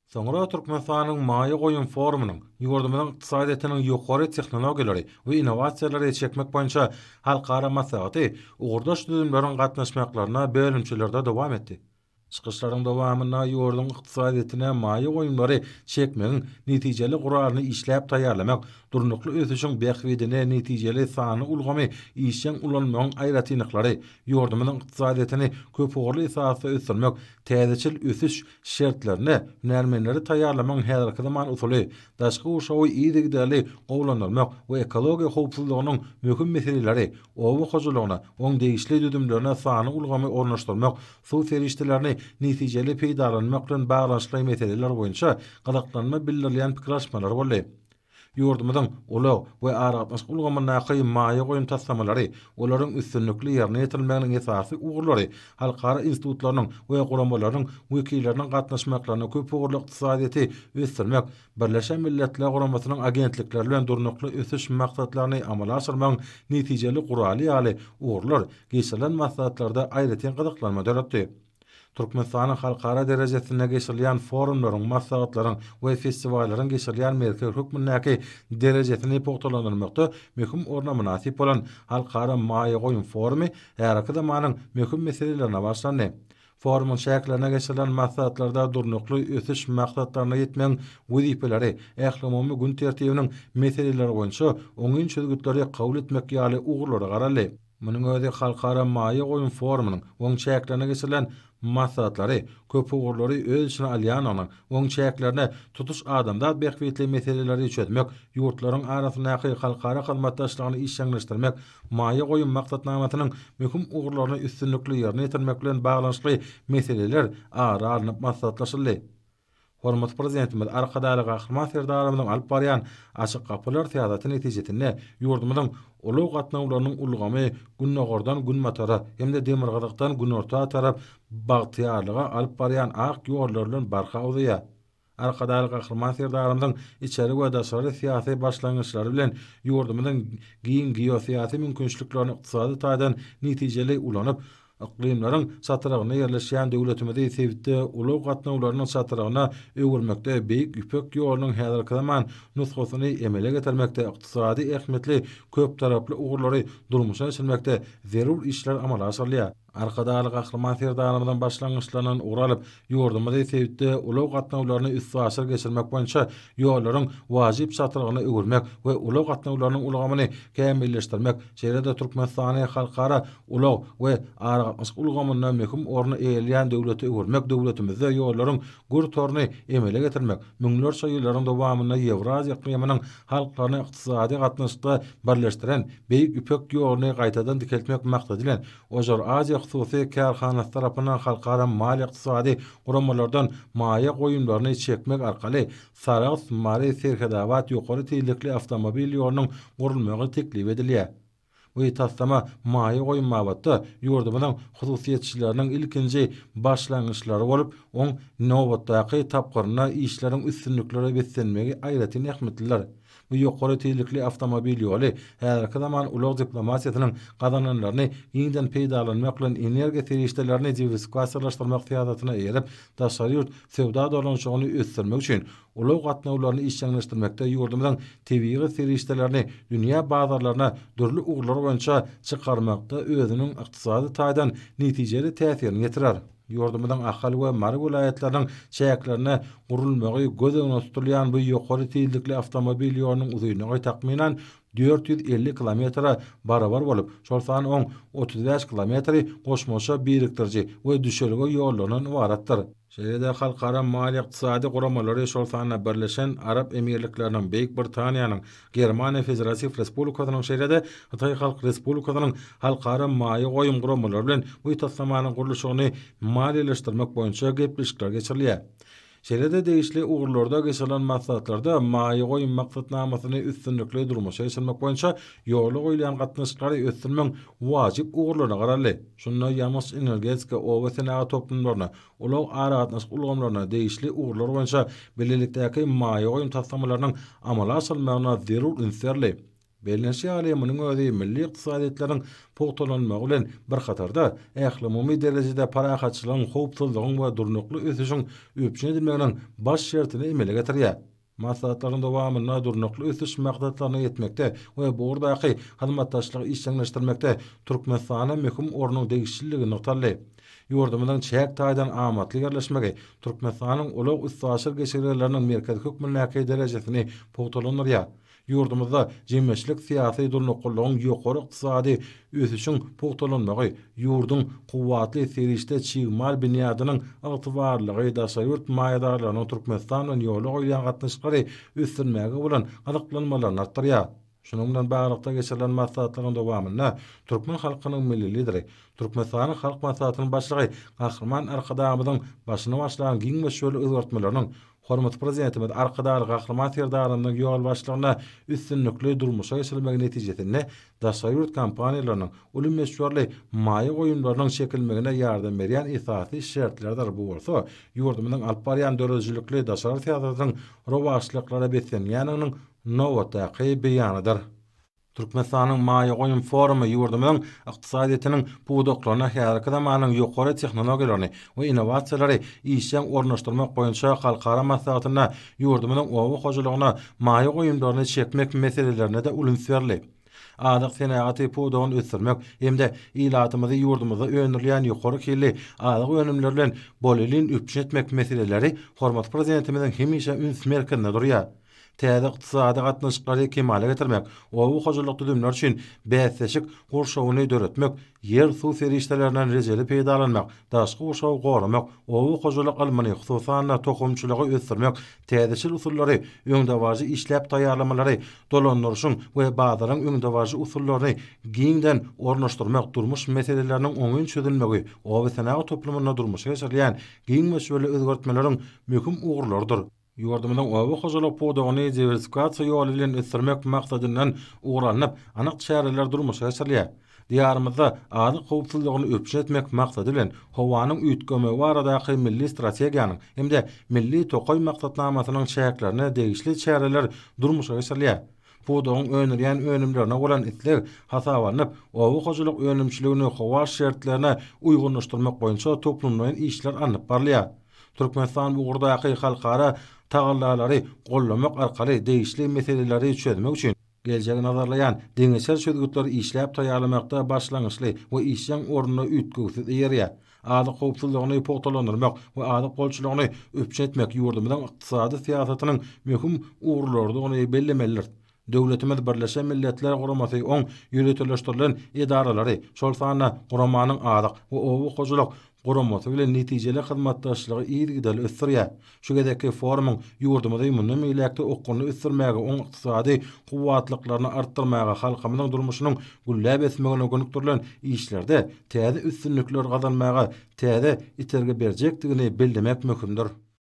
Soňra Türkmenistanyň maýa goýum forumynyň ýurdumyzyň ykdysadyýetiniň ýokary tehnologiýalary we innowasiýalary çekmek boýunça halkara maslahaty ugurdaş düzümleriň gatnaşmaklarynda bölümçelerde dowam etdi. Çykyşlaryň dowamynda ýurduň ykdysadyýetine maýa goýumlary çekmegiň netijeli guralyny işläp taýýarlamak, durnukly ösüşiň bähbidine netijeli sanly ulgamy işjeň ulanmagyň aýratynlyklary, Ýurdumyzyň ykdysadyýetini köpugurly esasda ösdürmek, täzeçil ösüş şertlerinde hünärmenleri taýýarlamagyň häzirki zaman usuly, daşky gurşawy yzygiderli gowulandyrmak we ekologiýa howpsuzlygynyň möhüm meseleleri, oba hojalygyna, oň degişli düzümlerine sanly ulgamy ornaşdyrmak, suw serişdelerini netijeli peýdalanmak bilen baglanyşykly meseleler boýunça gyzyklanma bildirilýän pikir alyşmalar boldy. Ýurdumyzyň ulag we aragatnaşyk ulgamyndaky maýa goýum taslamalary, olaryň üstünlikli ýerine ýetirilmeginiň esasy ugurlary halkara institutlarynyň we guramalarynyň wekilleriniň gatnaşmaklaryna köpugurly ykdysadyýeti ösdürmek, Birleşen Milletler Guramasynyň agentlikleri bilen Durnukly ösüş maksatlaryny amala aşyrmagyň netijeli guraly ýaly ugurlar geçirilen maslahatlarda aýratyn gyzyklanma döretdi. Türkmenistanyň halkara derejesinde geçirilýän forumlaryň, maslahatlaryň we festiwallaryň geçirilýän merkez hökmündäki derejesini pugtalandyrmakda möhüm orna mynasyp bolan Halkara maýa goýum forumy häzirki zamanyň möhüm meselelerine bagyşlandy. Forumyň çäklerinde geçirilen maslahatlarda Durnukly ösüş maksatlaryna ýetmegiň wezipeleri, ählumumy gün tertibiniň meseleleri boýunça oňyn çözgütleri kabul etmek ýaly ugurlara garaldy. Munuň özi Halkara maýa goýum forumynyň oň çäklerinde geçirilen maslahatlary köp ugurlary öz içine alýandygynyň oň çäklerinde tutuş adamzat bähbitli meseleleri çözmek, ýurtlaryň arasyndaky halkara hyzmatdaşlygyny işjeňleşdirmek, maýa goýum maksatnamasynyň möhüm ugurlaryny üstünlikli ýerine ýetirmek bilen baglanyşykly meseleler ara alnyp maslahatlaşyldy. Hormatly Prezidentimiz Arkadagly Gahryman Serdarymyzyň alyp barýan Açyk gapylar syýasaty netijesinde ýurdumyzyň ulag gatnawlarynyň ulgamy Gündogardan Günbatara hem-de Demirgazykdan Günorta tarap bagtyýarlyga alyp barýan ak ýollary bilen barha uzaýar. Arkadagly Gahryman Serdarymyzyň içeri we daşary syýasy başlangyçlary bilen ýurdumyzyň giň geosyýasy mümkinçiliklerini ykdysady taýdan netijeli ulanyp, Yklymlaryň çatrygynda ýerleşýän döwletimizi sebitde ulag gatnawlarynyň çatrygyna öwürmekde, Beýik Ýüpek ýolunyň häzirki zaman nusgasyny emele getirmekde, ykdysady ähmiýetli köptaraply ugurlary durmuşa geçirmekde zerur işler amala aşyrylýar. Arkadagly Gahryman Serdarymyzyň başlangyçlaryndan ugur alyp, Ýurdumyzy sebitde ulag gatnawlaryny üstaşyr geçirmek boýunça ýollaryň wajyp çatrygyna öwürmek we ulag gatnawlarynyň ulgamyny kämilleşdirmek, şeýle-de Türkmenistany halkara ulag we aragatnaşyk ulgamynda möhüm orny eýeleýän döwlete öwürmek, döwletimizde ýollaryň gür toruny emele getirmek, müňlerçe ýyllaryň dowamynda Ýewraziýa yklymynyň halklaryny ykdysady gatnaşykda birleşdiren Beýik Ýüpek ýoluny gaýtadan dikeltmek maksady bilen, Ojar Aziýa hususy kärhanasy tarapyndan halkara maliýe-ykdysady guramalardan maýa goýumlaryny çekmek arkaly Sarahs, Mary, Serhetabat ýokary tizlikli awtomobil ýolunyň gurulmagy teklip edilýär. Bu taslama maýa goýum babatda ýurdumyzyň hususyýetçileriniň ilkinji başlangyçlary bolup, oň nobatdaky tapgyrynda işleriň üstünliklere beslenmegi aýratyn ähmiýetlidir. Bu ýokary tizlikli awtomobil ýoly häzirki zaman ulag diplomatiýasynyň gazananlaryny giňden peýdalanmak bilen energiýa serişdelerini diwersifikasiýalaşdyrmak syýasatyna eýerip, daşary ýurt söwda dolanyşygyny ösdürmek üçin ulag gatnawlaryny işjeňleşdirmekde ýurdumyzyň tebigy serişdelerini dünýä bazarlaryna dürli ugurlar boýunça çykarmakda özüniň ykdysady taýdan netijeli täsirini ýetirer. Ýurdumyzyň Ahal we Mary welaýatlarynyň çäklerinde gurulmagy göz öňünde tutulýan bu ýokary tizlikli awtomobil ýolunyň uzynlygy takmynan dört ýüz elli kilometre barabar bolup, şol sany oň otuz bäş kilometri goşmaça birikdiriji we düşelge ýollaryndan ybaratdyr. Şeýle-de halkara maliýe-ykdysady guramalary, şol sanda Birleşen Arap Emirlikleriniň, Beýik Britaniýanyň, Germaniýa Federatiw Respublikasynyň şeýle-de Hytaý Halk Respublikasynyň halkara maýa goýum guramalary bilen bu taslamanyň gurluşygyny maliýeleşdirmek boýunça gepleşikler geçirilýär. Şeýle-de degişli ugurlarda geçirilen maslahatlarda maýa goýum maksatnamasyny üstünlikli durmuşa geçirmek boýunça ýola goýulýan gatnaşyklary ösdürmegiň wajyp ugurlaryna garaldy. Şunda ýangyç-energetika, oba senagat toplumlaryny, Ulag aragatnaşyk ulgamlaryna degişli ugurlar boýunça bilelikdäki maýa goýum taslamalarynyň amala aşyrylmagyna zerur üns berli. Bellenişi ýaly, munuň özi milli ykdysadyýetleriniň pugtalanmagy bilen bir hatarda, ählumumy derejede parahatçylygyň, howpsuzlygyň we durnukly ösüşiň üpjün edilmeginiň baş şertini emele getirýär. Maslahatlaryň dowamynda Durnukly ösüş maksatlaryna ýetmekde we bu ugurdaky hyzmatdaşlygy işjeňleşdirmekde Türkmenistana möhüm ornuň degişliligi nygtaldy. Ýurdumyzyň çäk taýdan amatly ýerleşmegi Türkmenistanyň ulag-üstaşyr geçelgeleriniň merkezi hökmündäki derejesini pugtalandyrýar Ýurdumyzda jemgyýetçilik-syýasy durnuklylygyň, ýokary ykdysady ösüşiň pugtalanmagy, ýurduň kuwwatly serişde çig mal binýadynyň ygtybarlylygy, daşary ýurt maýadarlarynyň Türkmenistan bilen ýola goýýan gatnaşyklary ösdürmäge bolan gyzyklanmalaryny artdyrýar. Şunuň bilen baglylykda geçirilen maslahatlaryň dowamynda türkmen halkynyň Milli Lideri, Türkmenistanyň Halk Maslahatynyň Başlygy Gahryman Arkadagymyzyň başyny başlan giň möçberli özgertmeleriniň, Hormatly Prezidentimiz Arkadagly Gahryman Serdarymyzyň ýolbaşçylygynda üstünlikli durmuşa geçirilmegi netijesinde daşary ýurt kompaniýalarynyň uly möçberli maýa goýumlarynyň çekilmegine ýardam berýän esasy şertlerdir, bu bolsa ýurdumyzyň alyp barýan döredijilikli daşary syýasatynyň rowaçlyklara beslenýändiginiň nobatdaky beýanydyr. Türkmenistanyň maýa goýum forumy ýurdumyzyň ykdysadyýetiniň pudaklaryna häzirki zamanyň ýokary tehnologiýalaryny we innowasiýalary işjeň ornaşdyrmak boýunça halkara maslahatynda ýurdumyzyň oba hojalygyna maýa goýumlaryny çekmek meselelerine-de uly üns berildi. Azyk senagaty pudagyny ösdürmek hem-de ilatymyzy ýurdumyzda öndürilýän ýokary hilli azyk önümleri bilen bolelin üpjün etmek meseleleri hormatly Prezidentimiziň hemişe üns merkezinde durýar. Täze ykdysady gatnaşyklary kemala getirmek, oba hojalyk düzümleri üçin bäsleşik gurşawyny döretmek, ýer-suw serişdelerinden rejeli peýdalanmak, daşky gurşawy goramak, oba hojalyk ylmyny, hususan-da, tohumçylygy ösdürmek, täzeçil usullary, öňdebaryjy işläp taýýarlamalary, dolandyryşyň we bazaryň öňdebaryjy usullaryny giňden ornaşdyrmak durmuş meseleleriniň oňyn çözülmegi obasenagat toplumynda durmuşa geçirilýän giň möçberli özgertmeleriň möhüm ugurlarydyr. Ýurdumyzyň oba hojalyk pudagyny diwersifikasiýa ýoly bilen ösdürmek maksadyndan ugur alnyp, anyk çäreler durmuşa geçirilýär. Diýarymyzda azyk howpsuzlygyny üpjün etmek maksady bilen, Howanyň üýtgemegi baradaky milli strategiýanyň hem-de Milli tokaý maksatnamasynyň çäklerinde degişli çäreler durmuşa geçirilýär. Pudagyň öndürýän önümlerine bolan isleg hasaba alnyp, oba hojalyk önümçiligini howa şertlerine uýgunlaşdyrmak boýunça toplumlaýyn işler alnyp barylýar. Türkmenistan bu ugurdaky halkara tagallalary goldamak arkaly degişli meseleleri çözmek üçin geljegi nazarlaýan deňeçer çözgütleri işläp taýýarlamakda başlangyçly we işjeň orunda üýtgewsiz eýerýär. Azyk howpsuzlygyny pugtalandyrmak we azyk bolçulygyny üpjün etmek ýurdumyzyň ykdysady syýasatynyň möhüm ugurlarydygyny bellemelidiris. Döwletimiz Birleşen Milletler Guramasy oň ýöriteleşdirilen edaralary, şol sanda guramanyň azyk we oba hojalyk guramasy bilen netijeli hyzmatdaşlygy yzygiderli ösdürýär. Şu gezekki forumyň ýurdumyzy mundan beýläk-de okgunly ösdürmäge, oň ykdysady kuwwatlyklaryny artdyrmaga, halkymyzyň durmuşynyň gülläp ösmegine gönükdirilen işlerde täze üstünlikler gazanmaga täze itergi berjekdigini bellemek möhümdir.